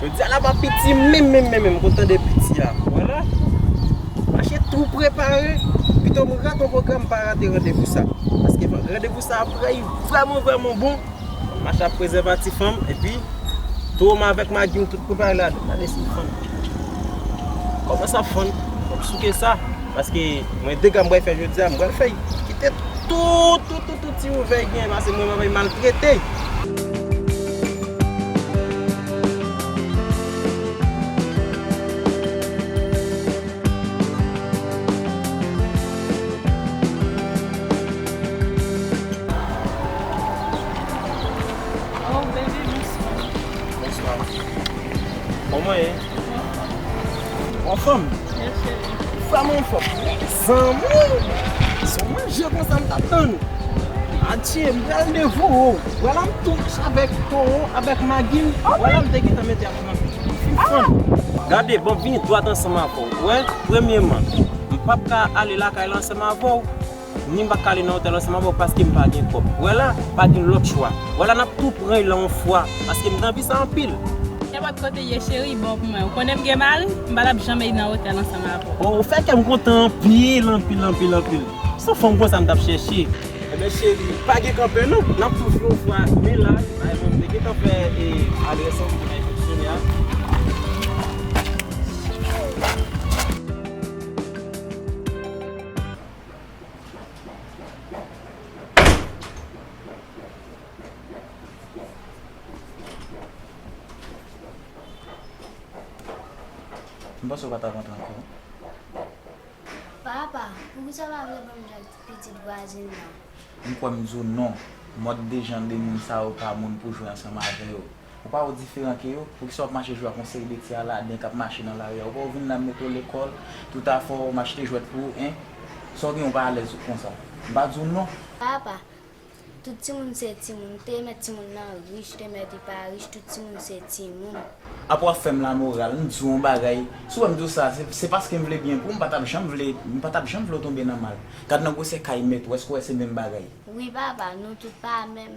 Jodi a la pa piti menm menm menm menm kontan de piti a wala mache tou prepare pito m rate yon pwogram pa rate randevou sa paske randevou sa aprè li vrèman vrèman bon mache ak prezèvatif an m epi tou m avèk magi m tout prepare la dan gade si fanm. Kòman sa fon? Fòk m souke sa. Paske mwen dega m pral fè jodi a, m pral fè kite tout, tout, tout, tout ti ouvèy genyen pase mwen pral maltrete. Bon mwen. Bon fanm. Yes cheri. Sa mwen fòk. Zanmouy. Son manje konsa m tap tann. Adye m pral devo ou. Wala m tou avèk toro avèk magi m. Wala m te gentan mete ap nan. Sim fanm. Gade bon vini dwat ansanm avèw. Ou wè premyeman m pap ka ale lakay la ansanm avèw. Ni m pa k ale nan otèl ansanm avè w paske m pa gen kòb. Wè la, pa gen lòt chwa. Wè la n ap tou pran y lan on fwa paske m te anvi sa anpil. Nenpòt kote ye cheri, bon pou mwen. Ou konnen m gen mari, m pa t ap janm e y nan otèl ansanm avè w. Ou fè kè m kontan anpil, anpil, anpil, anpil. S on fanm konsa m t ap chèche. Enben cheri, pa gen kanpe non. N ap tou jwi on fwa men la, bay mwen m te gentan fè e adrès lan kote m enspeksyone a. M panse w pa t ap antre ankò. Papa, poukisa w pa vle ban m djòb ti pitit vwazin nan? M kwè m di w non. Mòd de jan de moun sa yo pa moun pou jwe ansanm avè yo. Ou pa ou diferan ke yo? Poukisa wap mache jwe ak yon seri de ti aladen kap mache nan lari a? Ou pa ou vin la mete w lekòl, tout afè w, m achte jwèt pou ou, hein? Sa w gen ou pa alèz konsa? M pa di w non! Papa, Tout timoun se timoun, ou te mèt timoun nan rich, ou te mèt li pa rich, tout timoun se timoun. Apre wap fèm la moral, m di w yon bagay, si w wè m di w sa, se paske m vle byen pou w, m pa tap janm vle, m pa tap janm vle w tonbe nan mal. Gad nan gwosè kay mèt ou, èske w wè se menm bagay? Wi papa, nou tout pa menm.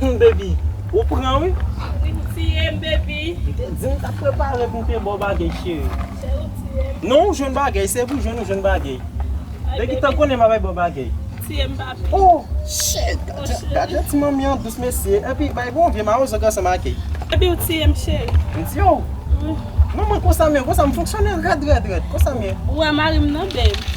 Humm baby ou pran wi. Wi ou tiyem baby. M te di m tap prepare pou m te baw bagay cheri. Cheri ou tiyem. Non ou jwenn bagay se pou jwenn ou jwenn bagay. Lè ki tan konnen m ap baw bagay. Tiyem papi. Oh shit gad jan ti manmi an dous mesye epi bay bon vye mawozo gason make. Baby ou tiyem cheri. M tiye w? Wi. Manman konsa m ye konsa m fonksyonel rèd rèd rèd konsa m ye. Ou wè marim nan babe.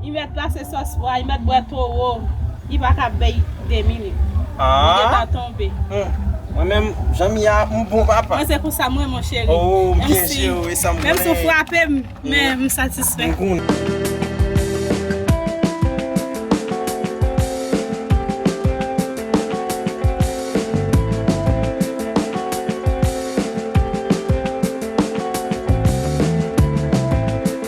I met la se sos pwa i met bwe toro i pa ka bay demi li li gentan tonbe. Mwen menm jan m ye a m bon papa. Mwen se konsa m renmen w cheri. Menm si w frape m men m satisfè.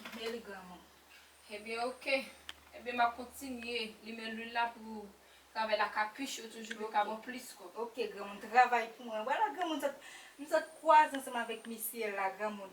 Ebyen li granmou. Ebyen ok. Ebyen map kontinye limen lwil la pou travay la ka pi cho toujou pou ka bon plis kob. Ok granmoun travay pou mwen. Wala granmoun sot m sot kwaze ansanm avèk misye la granmoun.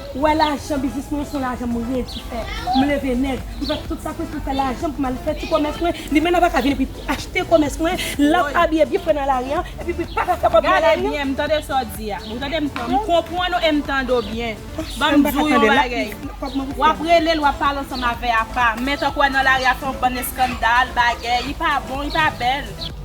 Ou wè lajan biznis mwen yo son lajan m redi fè. M leve nèg, m fè tout sakrifis pou m fè lajan m pou m al fè ti komès mwen. Li menm ap aka vini pou li achte komès mwen, l ap abiye byen fre nan lari an, epi pou li pa ka fè kòb nan lari an. Gade byen, m tande sa w di a. Ou tande m? M konprann ou e m tande w byen. Ban m di w yon bagay. W ap rele l, w ap pale ansanm avè apa. Men tank w wè nan lari a fè yon bann eskandal, bagè. Li pa bon, li pa bèl.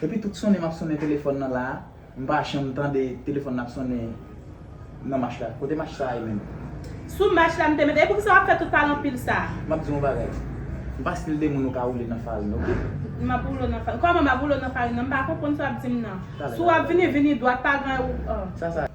Epi tout sonnen map sonnen telefòn nan la, m pa janm tande telefòn nan ap sonnen nan mach la. Kote mach sa ye menm? Sou mach la m te mete. E poukisa wap fè tout pale anpil sa? Map di w yon bagay. M pa stil de moun ou ka woule nan farin ok. Map woule w nan farin. Kòman map woule w nan farin nan? M pa konprann sa wap di m nan. Talè talè. Si wap vini, vini dwat pa gen ou. Sa sa ye?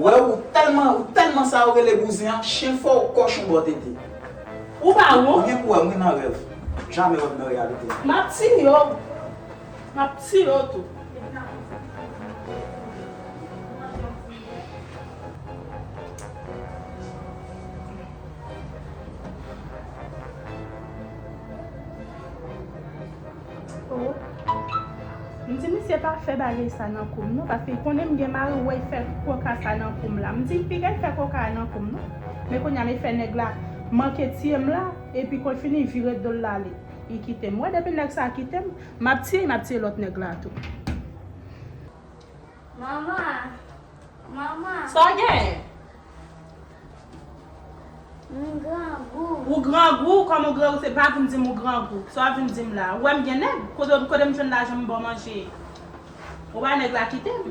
Wè ou tèlman ou tèlman sa yo rele bouzen an chien fò ou kòchon bò tete. Ou pa won. Ou gen pou wèm wi nan rèv. Jamè wèm nan reyalite. Map tiye w. Map tiye w tou. M di misye pa fè bagay sa nan koum non paske l konnen m gen mari w wè l fè koka sa nan koum la m di l piga l fè koka a nan koum non men kounya me fè nèg la manke tiye m la epi kon l fini vire do l ale li kite m wè depi nèg sa kite m m ap tiye l m ap tiye lòt nèg la tou. Mama! Mama! Sa w genyen? M grangou. Ou grangou, kòm ou grangou se pa vin di m ou grangou. Sa w ap vin di m la? Ou wè m gen nèg? Kote m jwenn lajan m ba w manje? Ou wè nèg la kite m.